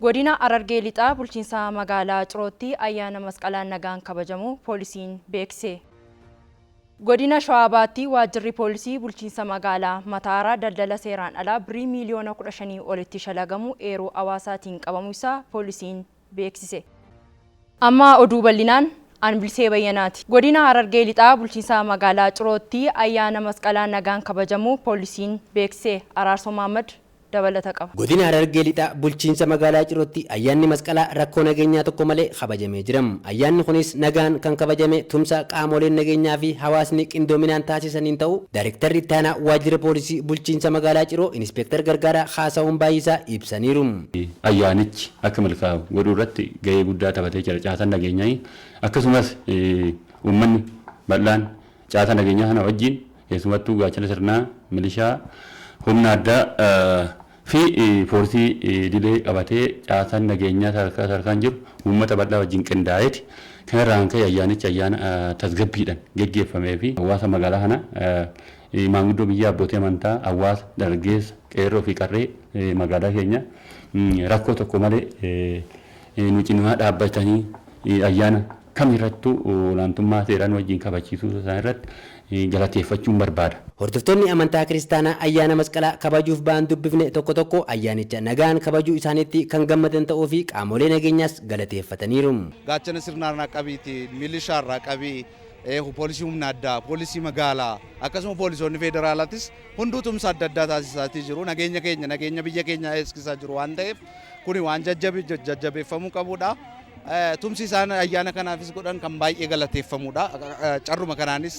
Godina Harargee Lixaa Bulchiinsa Magaalaa Cirootti Ayyaana Masqalaa Nagaan Kabajamuu Poolisiin Beeksise. Godina Shawaa Bahaatti Waajjirri Poolisii Bulchiinsa Magaalaa Mataaraa daldala seeraan alaa Birrii miiliyoona 15 olitti shalagamuu eeruu hawaasaatiin qabamuu isaa Poolisiin beeksise. Amma oduu bal'inaan. An Bilisee Bayyanaati. Godina Harargee Lixaa Bulchiinsa Magaalaa Cirootti Ayyaana Masqalaa Nagaan Kabajamuu Poolisiin Beeksise. Araarsoo Mahaammad dabalata qaba. Godina Harargee Lixaa Bulchiinsa Magaalaa Cirootti Ayyaanni Masqalaa rakkoo nageenyaa tokko malee kabajamee jira. Ayyaanni kunis nagaan kan kabajame tumsa qaamoleen nageenyaa fi hawaasni qindoominaan taasisaniin ta'uu Daarektarri Ittaanaa Waajjira Poolisii Bulchiinsa Magaalaa Ciroo Inispeektar Gargaaraa Kaasahuun Baay'isaa ibsaniiru. Ayyaanichi akka milkaa'u godhuu irratti gahee guddaa taphatee jira caasaan nageenyaa akkasumas uummanni bal'aan Caasaa nageenyaa kana wajjin keessumattuu gaachana sirnaa, milishaa, humna addaa fi poolisii idilee qabatee caasaan nageenyaa sadarkaa sadarkaan jiru uummata bal'aa wajjin qindaa'eeti. Kana irraa kan ka'e ayyaanichi ayyaana tasgabbiidhaan geggeeffamee fi hawaasa magaalaa kanaa, maanguddoo biyyaa, abbootii amantaa, hawaasa, dargaggeessa, qeerroo fi qarree magaalaa keenyaa rakkoo tokko malee nu cinaa dhaabbatanii ayyaana kam irrattuu olaantummaa seeraa nu wajjin kabachiisuu isaa irratti galateeffachuun barbaada. Hordoftoonni amantaa Kiristaanaa ayyaana Masqalaa kabajuuf ba'an dubbifne tokko tokko ayyaanicha nagaan kabajuu isaaniitti kan gammadan ta'uu fi qaamolee nageenyaas galateeffataniiru. Gaachana sirnaa irraa qabiiti, milishaa irraa qabii, poolisii humna addaa, poolisii magaalaa akkasuma poolisoonni feederaalaatis hunduu tumsa adda addaa taasisaatii jiru. Nageenya keenya, nageenya biyya keenyaa eegsisaa jiru waan ta'eef Kuni waan jajjabeeffamuu qabudha. Tumsi isaan ayyaana kanaafis godhan kan baay'ee galateeffamudha. Carruma kanaanis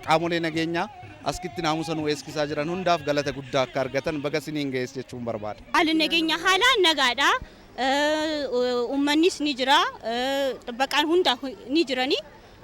qaamolee nageenyaa askitti naamusa nu eeskisaa jiran hundaaf galata guddaa akka argatan baga siniin ga'es jechuun barbaada. Haalli nageenya haala nagaadha. Uummannis ni jira. Xibbaqaan hunda ni jirani.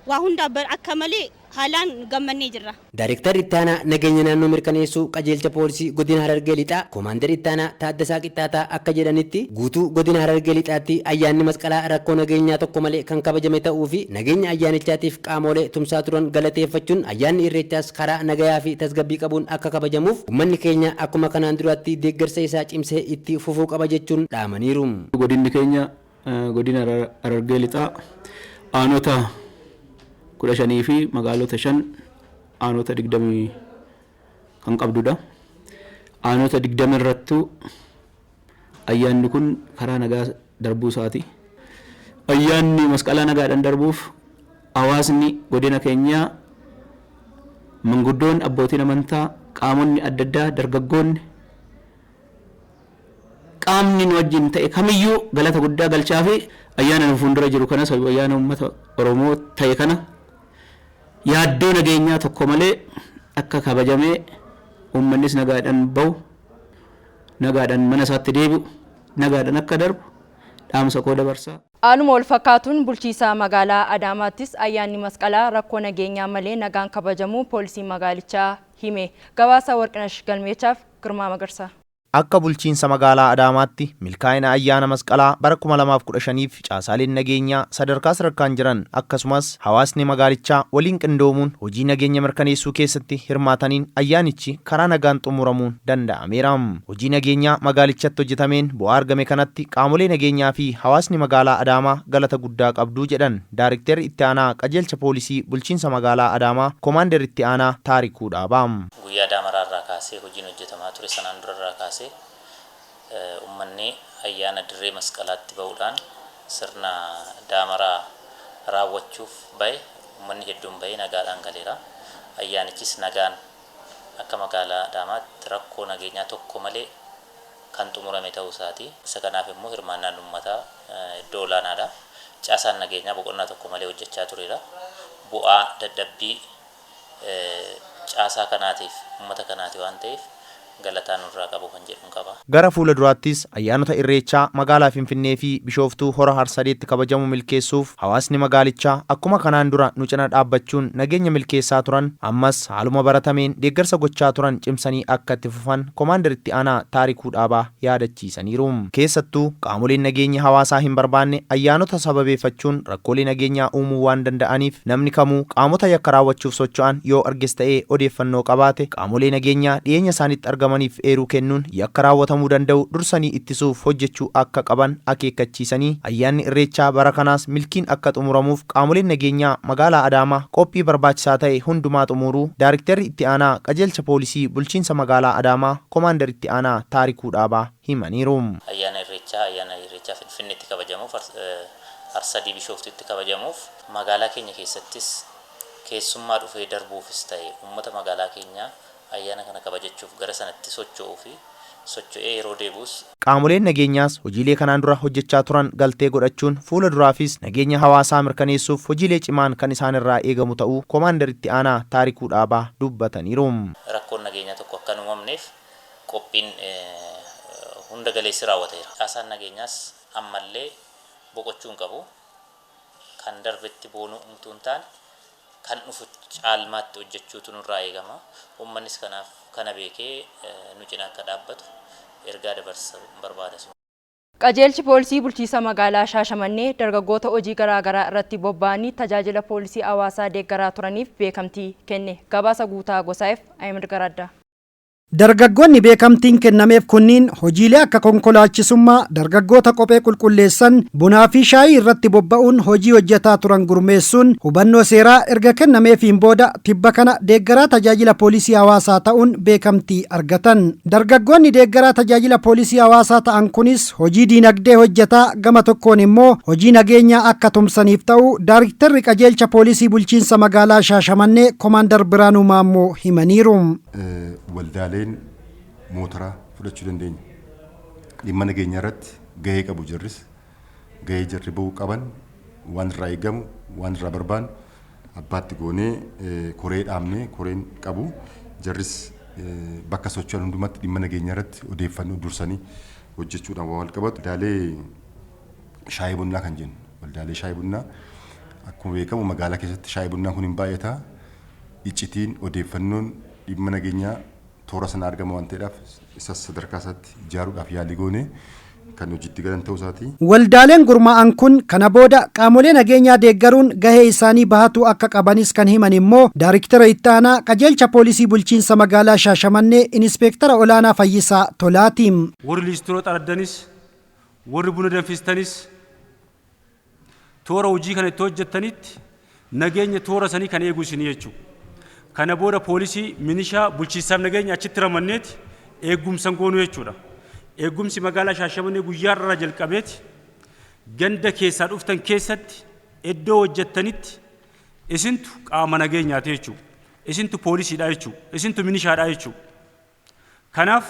Waa hundaa akka malee haalaan gammannee jirra. Daarektarri Ittaanaa Nageenya Naannoo Mirkaneessuu Qajeelcha Poolisii Godina Harargee Lixaa Koomaandar Ittaanaa Taaddasaa Qixxaataa akka jedhanitti, guutuu Godina Harargee Lixaatti ayyaanni Masqalaa rakkoo nageenyaa tokko malee kan kabajame ta'uu fi nageenya ayyaanichaatiif qaamoolee tumsaa turan galateeffachuun ayyaanni Irreechaas karaa nagayaa fi tasgabbii qabuun akka kabajamuuf ummanni keenya akkuma kanaan duraatti deeggarsa isaa cimsee itti fufuu qaba jechuun dhaamaniiru. Godinni keenya Godina Harargee Lixaa aanota 15 fi magaalota 5 aanota 20 kan qabdudha. Aanota 20 irrattuu ayyaanni kun karaa nagaa darbuu isaati. Ayyaanni masqalaa nagaadhaan darbuuf hawaasni godina keenyaa manguddoon abbootiin amantaa qaamonni adda addaa dargaggoonni Qaamni nu wajjin ta'e kamiyyuu galata guddaa galchaafii ayyaana nu fuundura jiru kanas ayyaana uummata Oromoo ta'e kana yaaddoo nageenyaa tokko malee akka kabajamee uummannis nagaadhaan bahu, nagaadhaan mana isaatti deebi'u, nagaadhaan akka darbu dhaamsa koo dabarsa. Haaluma walfakkaatuun bulchiisa magaalaa Adaamaattis ayyaanni Masqalaa rakkoo nageenyaa malee nagaan kabajamuu poolisiin magaalichaa hime. Gabaasa Warqinash Galmeechaaf. Girmaa Magarsaa. Akka Bulchiinsa Magaalaa Adaamaatti milkaa'ina Ayyaana Masqalaa bara 2015f caasaaleen nageenyaa sadarkaa sadarkaan jiran akkasumas hawaasni magaalichaa waliin qindoomuun hojii nageenya mirkaneessuu keessatti hirmaataniin ayyaanichi karaa nagaan xumuramuun danda'ameera. Hojii nageenyaa magaalichatti hojjetameen bu'aa argame kanatti qaamolee nageenyaa fi hawaasni magaalaa Adaamaa galata guddaa qabdu jedhan Daarikterri Itti Aanaa Qajeelcha Poolisii Bulchiinsa Magaalaa Adaamaa Komaander Itti Aanaa Taarikuu Dhaabaa. Guyyaa Daamaraa irraa kaasee hojiin hojjetamaa ture sanaan dura irraa kaasee ummanni ayyaana dirree masqalaatti ba'uudhaan sirna daamaraa raawwachuuf ba'e ummanni hedduun ba'ee nagaadhaan galeera. Ayyaanichis nagaan akka magaalaa Adaamaatti rakkoo nageenyaa tokko malee kan xumurame ta'uu isaati. Isa kanaaf immoo hirmaannaan ummataa iddoo olaanaadha. Caasaan nageenyaa boqonnaa tokko malee hojjechaa tureera. Bu'aa dadhabbii caasaa kanaatiif, ummata kanaati waan ta'eef galataa nurraa qabu kan jedhun qaba. Gara fuula duraattis ayyaanota Irreechaa magaalaa Finfinnee fi Bishooftuu Hora Harsadeetti kabajamu milkeessuuf hawaasni magaalichaa akkuma kanaan dura nu cina dhaabbachuun nageenya milkeessaa turan ammas haaluma baratameen deeggarsa gochaa turan cimsanii akka itti fufan Komaander Itti Aanaa Taarikuu Dhaabaa yaadachiisaniiru. Keessattuu, qaamoleen nageenyi hawaasaa hin barbaanne ayyaanota sababeeffachuun rakkoolee nageenyaa uumuu waan danda'aniif namni kamuu qaamota yakka raawwachuuf socho'an yoo arges ta'ee odeeffannoo qabaate qaamolee nageenyaa dhiyeenya isaanitti argamaniif eeruu kennuun yakka raawwatamuu danda'u dursanii ittisuuf hojjechuu akka qaban akeekkachiisanii ayyaanni Irreechaa bara kanaas milkiin akka xumuramuuf qaamoleen nageenyaa Magaalaa Adaamaa qophii barbaachisaa ta'e hundumaa xumuuruu Daarikterri Itti Aanaa Qajeelcha Poolisii Bulchiinsa Magaalaa Adaamaa Komaandar Itti Aanaa Taarikuu Dhaabaa himaniiru. Ayyaana Irreechaa Ayyaana Irreechaa Finfinneetti kabajamuuf Arsadii Bishooftuutti kabajamuuf magaalaa keenya keessattis keessummaa dhufee darbuufis ta'e uummata magaalaa keenyaa ayyaana kana kabajachuuf gara sanatti socho'uu fi socho'ee yeroo deebi'us Qaamoleen nageenyaas hojiilee kanaan dura hojjechaa turan galtee godhachuun fuula duraafis nageenya hawaasaa mirkaneessuuf hojiilee cimaan kan isaan irraa eegamu ta'uu Komaandar Itti Aanaa Taarikuu Dhaabaa dubbataniiru. Rakkoon nageenyaa tokko akka hin uumamneef qophiin hunda galeessi raawwateera. Caasaan nageenyaas ammallee boqochuu hin qabu. Kan darbetti boonuu utuu hin taane kan dhufu caalmaatti hojjechuutu nurraa eegama. Uummannis kanaaf kana beekee nu cina akka dhaabbatu ergaa dabarsuun barbaada. Qajeelchi Poolisii Bulchiisa Magaalaa Shaashamannee dargaggoota hojii garaagaraa irratti bobba'anii tajaajila poolisii hawaasaa deeggaraa turaniif beekamtii kenne. Gabaasa Guutaa Gosaayef, Ahimad Garaaddaa. Dargaggoonni beekamtiin kennameef kunniin hojiilee akka konkolaachisummaa, dargaggoota kophee qulqulleessan, bunaa fi shaayii irratti bobba'uun hojii hojjetaa turan gurmeessuun hubannoo seeraa erga kennameefiin booda tibba kana deeggaraa tajaajila poolisii hawaasaa ta'uun beekamtii argatan. Dargaggoonni deeggaraa tajaajila poolisii hawaasaa ta'an kunis hojii diinagdee hojjetaa gama tokkoon immoo hojii nageenyaa akka tumsaniif ta'uu Daarikterri Qajeelcha Poolisii Bulchiinsa Magaalaa Shaashamannee Komaandar Biraanuu Maammoo himaniiru. waldaaleen mootaraa fudhachuu dandeenya. Dhimma nageenyaa irratti gahee qabu jarris. Gahee jarri ba'uu qaban waan irraa eegamu waan irraa barbaannu abbaatti goonee koree dhaabnee koreen qabu jarris bakka socho'an hundumatti dhimma nageenyaa irratti odeeffannoo dursanii hojjechuudhaan waa wal qabatu. Waldaalee shaayii bunnaa kan jennu waldaalee shaayii bunnaa akkuma beekamu magaalaa keessatti shaayii bunnaan kun hin baay'ata. iccitiin odeeffannoon dhimma nageenyaa toora sana argama waan ta'eedhaaf isas sadarkaa isaatti ijaaruudhaaf yaalii goone kan hojiitti galan ta'uu isaati. Waldaaleen gurmaa'an kun kana booda qaamolee nageenyaa deeggaruun gahee isaanii bahatuu akka qabanis kan himan immoo Daariktera Itti Aanaa Qajeelcha Poolisii Bulchiinsa Magaalaa Shaashamannee Inispeektara Olaanaa Fayyisaa Tolaati. Warri liistiroo xaraddanis, warri buna danfistanis, Toora hojii kana itti hojjettanitti nageenya toora sanii kan eegu isinii jechuu. Kana booda poolisii, minishaa, bulchiinsaaf nageenya achitti ramadneeti eeggumsan goonu jechuudha. Eeggumsi magaalaa Shaashamannee guyyaa har'arraa jalqabeeti ganda keessaa dhuftan keessatti iddoo hojjettanitti isintu qaama nageenyaati jechuu. Isintu poolisiidha jechuu. Isintu minishaadha jechuu. Kanaaf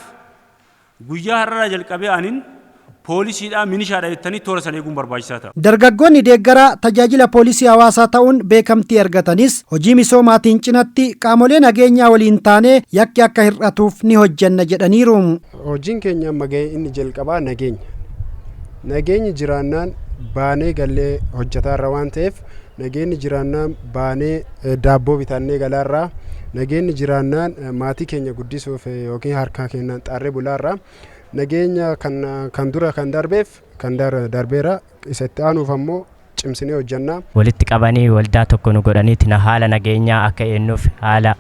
guyyaa har'araa jalqabee anin poolisiidha, minishaadha jettanii toora sana eeguun barbaachisaa ta'a. Dargaggoonni deeggaraa tajaajila poolisii hawaasaa ta'uun beekamtii argatanis hojii misoomaatiin cinatti qaamolee nageenyaa waliin taanee yakki akka hir'atuuf ni hojjenna jedhaniiru. Hojiin keenya amma gahee inni jalqabaa nageenya. Nageenyi jiraannaan baanee gallee hojjetaarra waan ta'eef Nageenni jiraannaan baanee daabboo bitaannee galaarraa. Nageenni jiraannaan maatii keenya guddisuuf yookiin harkaa keenyaan xaarree bulaarraa. Nageenya kan kan dura kan darbeef kan darbeera isa itti aanuuf ammoo cimsinee hojjannaa. Walitti qabanii waldaa tokko nu godhaniiti na haala nageenyaa akka eennuuf haala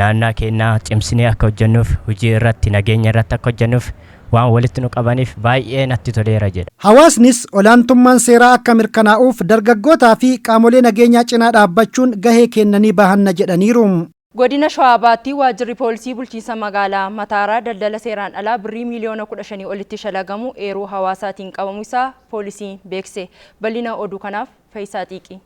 naannaa keennaa cimsinee akka hojjannuuf hujii irratti nageenya irratti akka hojjannuuf waan walitti nu qabaniif baay'ee natti toleera jedha. Hawaasnis olaantummaan seeraa akka mirkanaa'uuf dargaggootaa fi qaamolee nageenyaa cinaa dhaabbachuun gahee keenna ni bahanna jedhaniiru. Godina Shawaa Bahaatti Waajjirri Poolisii Bulchiinsa Magaalaa Mataaraa daldala seeraan alaa Birrii miiliyoona 15 olitti shalagamu eeruu hawaasaatiin qabamu isaa Poolisiin beeksise. Bal'ina oduu kanaaf Fayisaa Xiiqii.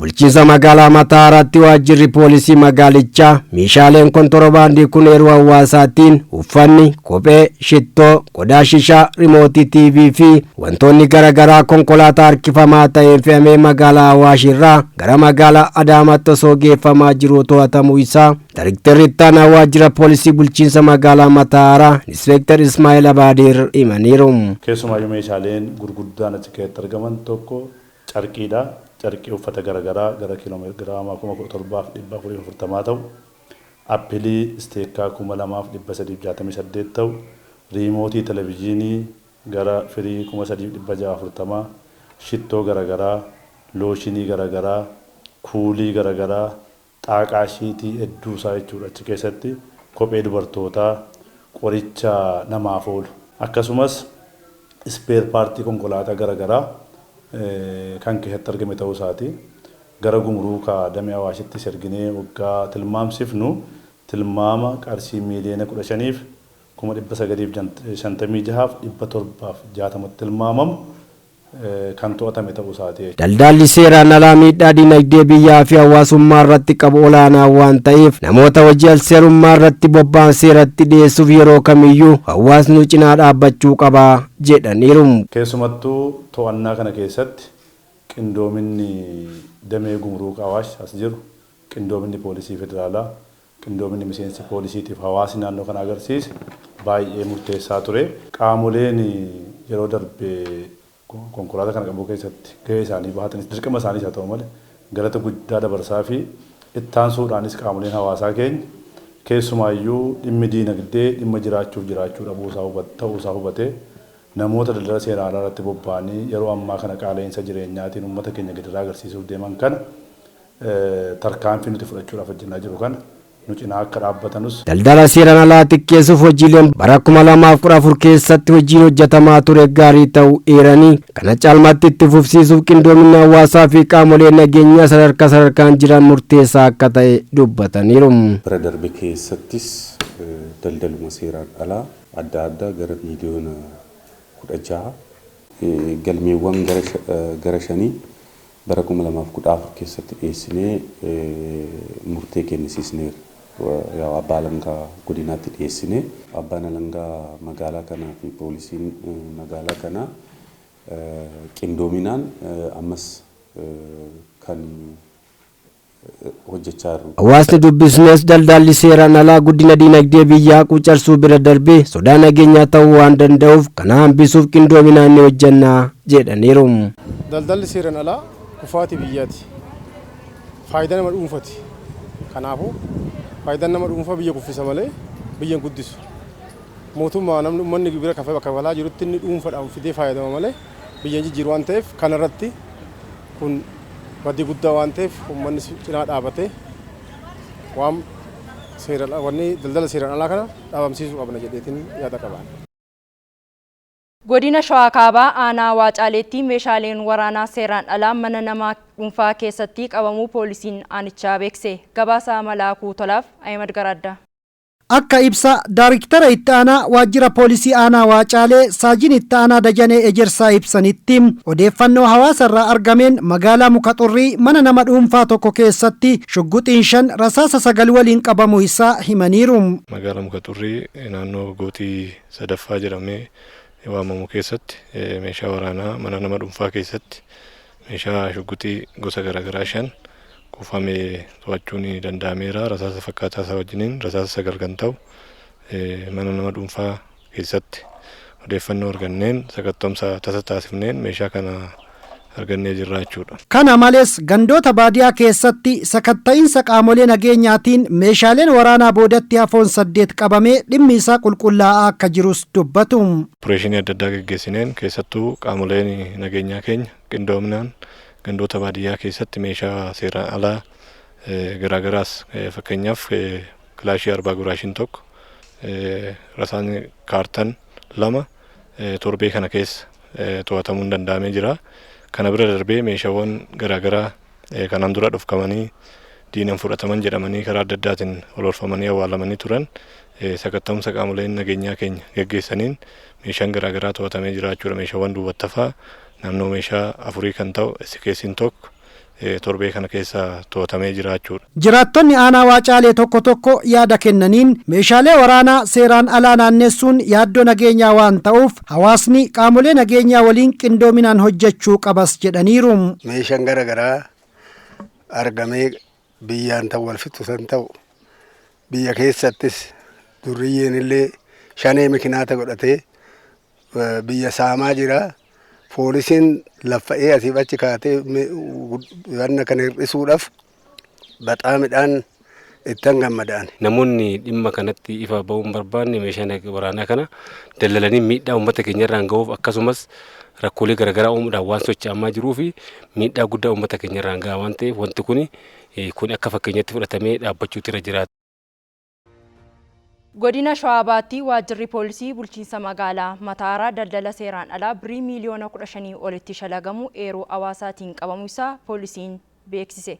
Bulchiinsa magaalaa Mataaraatti waajjirri poolisii magaalichaa meeshaaleen kontorobaandii kun eeruu hawaasaatiin uffanni, kophee, shittoo, qodaa shishaa, rimootii TV fi wantoonni garaagaraa konkolaataa harkifamaa ta'een fe'amee magaalaa Awaash irraa gara magaalaa Adaamaatti osoo geeffamaa jiruu to'atamuu isaa Daayrektarri ittaanaa waajjira poolisii bulchiinsa magaalaa Mataaraa Inspektar Ismaa'eel Abaadir himaniiru. Keessumaayyuu meeshaaleen gurguddaan achi keessatti argaman tokko carqii dha. Carqii uffata gara garaa gara kg 17,440 ta'u, appilii isteekkaa 2,368 ta'u, riimootii televijiinii gara firii 3,640, shittoo gara garaa, looshinii gara garaa, kuulii gara garaa, xaaqaa ishiitii edduu isaa jechuudha achi keessatti kophee dubartootaa qoricha namaaf oolu akkasumas ispeer paartii konkolaataa gara garaa kan keessatti argame ta'uu isaati gara gumuruuka damee awaashittis erginee oggaa tilmaamsifnu tilmaama qarshii miiliyoona 15 fi kuma 956 fi 760tti tilmaamamu kan to'atame ta'uu isaati. Daldaalli seeraan alaa miidhaa dinagdee biyyaa fi hawaasummaa irratti qabu olaanaa waan ta'eef namoota hojii alseerummaa irratti bobba'an seeratti dhiyeessuuf yeroo kamiyyuu hawaasnu cinaa dhaabbachuu qaba jedhaniiru. Keessumattuu to'annaa kana keessatti qindoominni damee Gumuruuka Awaash as jiru, qindoominni Poolisii Federaalaa, Qindoominni miseensi poolisiitiif hawaasni naannoo kanaa agarsiise baayyee murteessaa ture. Qaamoleen yeroo darbe konkolaataa kana qabuu keessatti gahee isaanii bahatanis dirqama isaaniis haa ta'u malee galata guddaa dabarsaafii. Ittaansuudhaanis qaamoleen hawaasaa keenya keessumaayyuu dhimmi diinagdee dhimma jiraachuuf jiraachuu dhabuu isaa ta'uu isaa hubatee namoota daldala seeraan alaa irratti bobba'anii yeroo ammaa kana qaala'iinsa jireenyaatiin uummata keenya gidiraa agarsiisuuf deeman kana tarkaanfii nuti fudhachuudhaaf hojjennaa jiru kana nu cinaa akka dhaabbatanus. Daldala seeraan alaa xiqqeessuuf hojiileen bara 2014 keessatti hojiin hojjetamaa ture gaarii ta'uu eeranii, kana caalmaatti itti fufsiisuuf qindoominni hawaasaa fi qaamolee nageenyaa sadarkaa sadarkaan jiran murteessaa akka ta'e dubbataniiru. Bara darbe keessattis daldaluma seeraan alaa adda addaa gara biiliyoona 16, galmeewwan gara shanii Bara 2014 keessatti dhiyeessinee murtee kennisiisneerra. Yaa'u abbaa alangaa godinaatti dhiyeessine. Abbaan alangaa magaalaa kanaa fi poolisiin magaalaa kanaa qindoominaan ammas kan hojjechaa jirru. Hawaasni dubbisnes daldaalli seeraan alaa guddina diinagdee biyyaa quucarsuu bira darbee sodaa nageenyaa ta'uu waan danda'uuf kana hambisuuf qindoominaan ni hojjenna jedhaniiru. Daldalli seeran alaa kufaatii biyyaati. Faayidaa nama dhuunfati. Kanaafuu faayidaan nama dhuunfaa biyya kuffisa malee biyya hin guddisu. Mootummaa namni ummanni gibira kafalaa jirutti inni dhuunfadhaan fidee faayadama malee biyya hin jijjiiru waan ta'eef kana irratti kun badii guddaa waan ta'eef uummanni cinaa dhaabatee waan seeraan wanni daldala seeraan alaa kana dhaabamsiisuu qabna jedheetiin yaada qabaan. Godina Shawaa Kaabaa aanaa Waacaaleetti meeshaaleen waraanaa seeraan alaa mana nama dhuunfaa keessatti qabamuu poolisiin aanichaa beeksise. Gabaasaa Malaakuu Tolaaf, Ahimad Garaaddaa. Akka ibsa Daariktara Itti Aanaa Waajjira Poolisii Aanaa Waacaalee Saajin Itti Aanaa Dajanee Ejersaa ibsanitti, odeeffannoo hawaasa irraa argameen magaalaa Muka Xurrii mana nama dhuunfaa tokko keessatti shugguxiin 5 rasaasa 9 waliin qabamuu isaa himaniiru. Magaala Muka Xurrii naannoo Gootii Sadaffaa jedhamee waamamu keessatti meeshaa waraanaa mana nama dhuunfaa keessatti Meeshaa shugguxii gosa garaagaraa 5 kuufame to'achuun danda'ameera. Rasaasa fakkaataa isaa wajjiniin rasaasa 9 kan ta'u mana nama dhuunfaa keessatti odeeffannoo arganneen sakatta'umsa tasa taasifneen meeshaa kana argannee jirra jechuudha. Kana malees gandoota baadiyaa keessatti sakatta'iinsa qaamolee nageenyaatiin meeshaaleen waraanaa boodatti hafoon 8 qabamee dhimmi isaa qulqullaa'aa akka jirus dubbatu. Opereeshinii adda addaa geggeessineen keessattuu qaamoleen nageenyaa keenya qindoominaan gandoota baadiyyaa keessatti meeshaa seeraan alaa garaagaraas fakkeenyaaf kilaashii arbaa guraashiin tokko rasaan kaartan lama torbee kana keessa to'atamuun danda'amee jira. Kana bira darbee meeshaawwan garaagaraa Kanaan dura dhofkamanii diinan fudhataman jedhamanii karaa adda addaatiin oloolfamanii awwaalamanii turan sakatta'umsa qaamoleen nageenyaa keenya gaggeessaniin meeshaan garaagaraa to'atamee jiraachuudha. Meeshaawwan duubattafaa naannoo meeshaa afurii kan ta'u SKS'n tokko torbee kana keessa to'atamee jiraachuudha. Jiraattonni aanaa Waacaalee tokko tokko yaada kennaniin meeshaalee waraanaa seeraan alaa naanneessuun yaaddoo nageenyaa waan ta'uuf Hawaasni qaamolee nageenyaa waliin qindoominaan hojjechuu qabas jedhaniiru. Meeshaan gara garaa argamee biyyaan tan wal fixu san ta'u biyya keessattis durriyyeen illee shanee mikinaata godhatee biyya saamaa jira. Poolisiin laffa'ee asiif achi kaatee wanna kana hir'isuudhaaf baxaamidhaan ittan gammada ani. Namoonni dhimma kanatti ifa ba'uu hin barbaanne meeshaa nag- waraanaa kana daldalanii miidhaa uummata keenya irraan ga'uuf akkasumas rakkoolee garaagaraa uumuudhaan waan socho'amaa jiruu fi miidhaa guddaa uummata keenya irraan ga'a waan ta'eef wanti kun kun akka fakkeenyatti fudhatamee dhaabbachuutu irra jiraata. Godina Shawaa Bahaatti Waajjirri Poolisii Bulchiinsa Magaalaa Mataaraa daldala seeraan alaa Birrii miiliyoona 15 olitti shalagamu eeruu hawaasaatiin qabamuu isaa Poolisiin beeksise.